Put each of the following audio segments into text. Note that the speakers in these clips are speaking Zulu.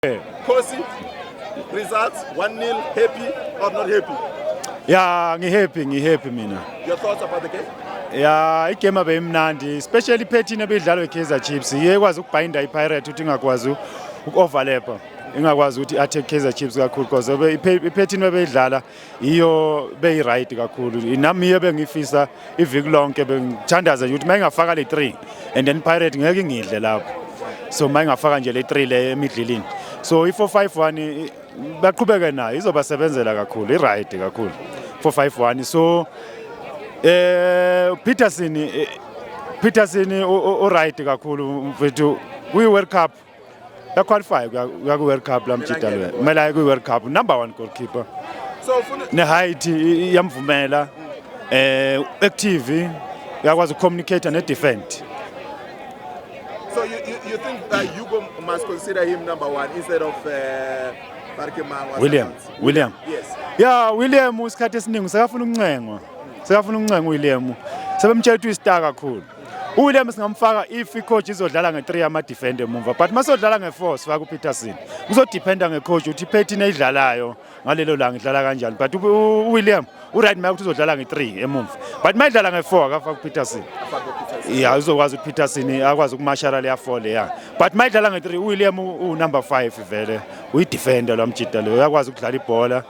Khosi results 1-0 happy or not happy? Yeah, ngihappy ngihappy mina. Your thoughts about the game? ya igame abeyimnandi especially iphethini ebidlalwe Kaizer Chiefs iye kwazi ukubhinda iPirate ukuthi ingakwazi ukuoverlapper ingakwazi ukuthi attack Kaizer Chiefs kakhulu because iphethini bebeyidlala iyo beyi-right kakhulu nami iyo bengifisa iviki lonke bengithandaza nje ukuthi uma ingafaka le three and then pirate ngeke ingidle lapho so uma ingafaka nje le three le emidlilini so i-four five one baqhubeke nayo izobasebenzela kakhulu i-right kakhulu four five one so eh peterson eh, peterson u-right kakhulu mfethu kwi-world cup ya qualify kuya ku World Cup la mjita lo kumele aye ku World Cup number 1 goalkeeper so ufuna ne height iyamvumela eh active uyakwazi ukucommunicate ne defend so you, you, you think that Hugo must consider him number 1 instead of uh, William William yes yeah William usikhathi esiningi sekafuna ukuncengwa sekafuna ukuncengwa William sebemtshela ukuthi uyistar kakhulu uWilliam singamfaka if icoach izodlala nge-3 yamadefend emumva but uma sodlala nge-4 sifaka upeterson kuzodependa ngecoach ukuthi ipetin eyidlalayo ngalelo langa idlala kanjani but uwilliam uright maye ukuthi uzodlala nge-3 emumva but uma idlala nge-4 akafaka upeterson ya uzokwazi ukuthi peterson akwazi ukumashara leya 4 leya but uma idlala nge-3 uwilliam uwunumber 5 vele uyidefenda lwamjida leyo uyakwazi ukudlala ibhola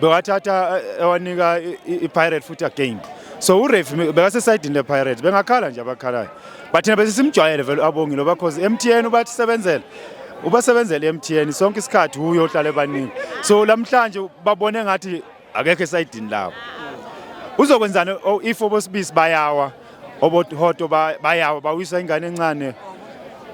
bewathatha eh, ewanika i-pirate futhi again so urefi bekasesayidini lepirates bengakhala nje abakhalayo but thina besisimjwayele vele abongile oba cause m t n ubatisebenzela ubasebenzela i-m t n sonke isikhathi uye ohlala ebaningi so lamhlanje babone ngathi akekho esayidini labo uzokwenzani oh, if obosibisi bayawa obohoto bayawa bawisa ingane encane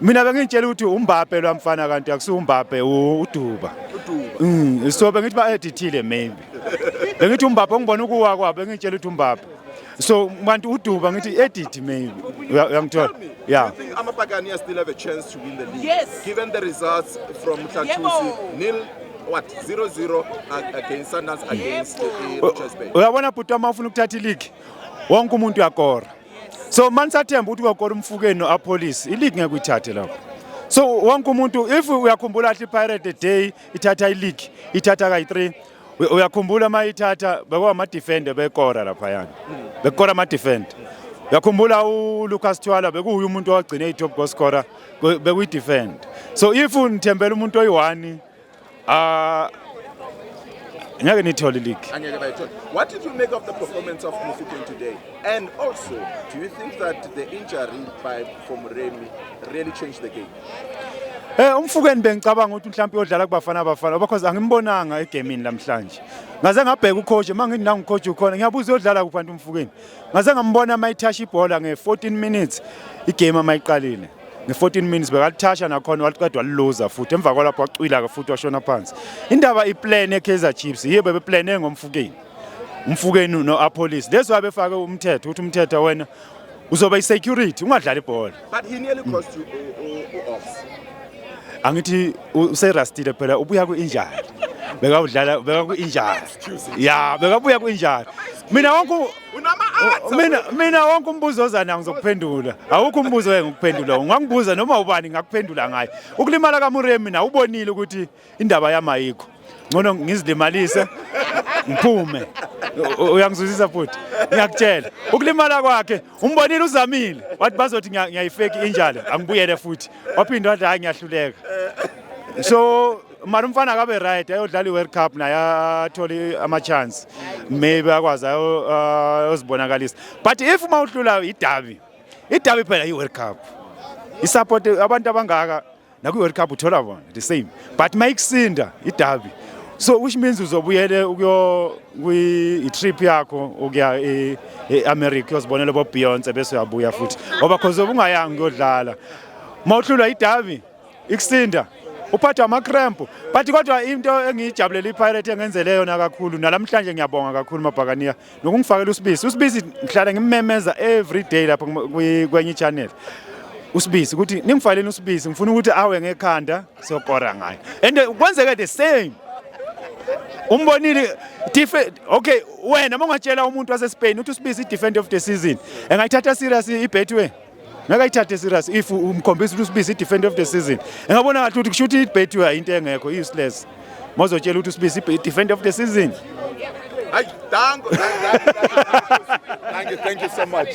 mina bengitshela ukuthi umbabhe lo mfana kanti akusiwo umbabhe uduba mm, so bengithi ba-edithile maybe bengithi umbabhe ongibona ukuwa kwabo bengitshela ukuthi umbabhe so kanti uduba ngithi edit maybe uyangithola yeah amapakani are still have a chance to win the league yes. given the results from mhlathusi nil what 0-0 against sundance against uh, uh, uyabona bhuti wama ufuna ukuthatha iligi wonke umuntu uyakora so mani sathemba ukuthi uyakora umfukeni no-apolice iligi ngeke uyithathe lapho so wonke umuntu if uyakhumbula ahle ipirate day ithatha iligi ithatha kayi-three uyakhumbula uma ithatha bekwama-defender bekora laphayana bekora ama-defender uyakhumbula ulucas thwala bekuwuye umuntu owagcine i-top goal scorer bekuyi-defend so if nithembela umuntu oyi-one Ah ngeke nithole league. Angeke bayithole. What did you make of the performance of Mufokeng today? And also, do you think that the injury by for Muremi really changed the game? Eh umfukeni bengicabanga ukuthi mhlawumbe uyodlala kubafana abafana because angimbonanga egamini namhlanje. Ngaze ngabheka ucoach mangithi nangu coach ukhona ngiyabuza uyodlala kuphantu umfukeni. Ngaze ngambona mayithash ibhola nge 14 minutes igame amayiqalile. nge-14 minutes bekalithasha nakhona waliqeda waliluza futhi emva kwalapho wacwila-ke futhi washona phansi indaba iplan ekaizer chiefs yiyo bebeplane ngomfukeni umfukeni no-apolice leso abefake umthetho ukuthi umthetho wena uzoba i-security ungadlali ibhola angithi userastile phela ubuya ku-injali bekawudlala bekaku-injali ya bekabuya ku-injali mina wonke mina mina wonke umbuzo ozana ngizokuphendula awukho umbuzo engikuphendula ungangibuza noma ubani ngakuphendula ngaye ukulimala kamuremi mina ubonile ukuthi indaba yami ayikho ngcono ngizilimalise ngiphume uyangizuzisa futhi ngiyakutshela ukulimala kwakhe umbonile uzamile wathi bazothi ngiyayifeki injalo angibuyele futhi waphinde wathi hayi ngiyahluleka so mara umfana akabe right ayodlala i-world cup naye athole ama-chance maybe akwazi ayozibonakalisa but if uma uhlula idabi idabi phela i-world cup isupport abantu abangaka nakwi-world cup uthola bona the same but uma ikusinda idabi so which means uzobuyele ukuyo kwi-trip yakho ukuya e-america uyozibonela bobeyonce bese uyabuya futhi ngoba khoze ubungayanga ukuyodlala uma uhlulwa idabi ikusinda uphathwa ama-cramp but kodwa into engiyijabulela ipirate engenzele yona kakhulu nalamhlanje ngiyabonga kakhulu mabhakaniya nokungifakela usibisi usibisi ngihlala ngimmemeza every day lapho kwenye ichannel usibisi ukuthi ningifaleni usibisi ngifuna ukuthi awe ngekhanda siyokora ngayo and kwenzeke the same umbonile okay wena uma ungatshela umuntu wasespain ukuthi usibisi i-defend of the season engayithatha serious ibetway ngeke ayithathe serious if umkhombisa ukuthi usibisi defender of the season engabona ngathi ukuthi kushuthi ibet into engekho useless mozotshela ukuthi usibisi defender of the season Ay, thank, thank, thank, thank you, thank you so much.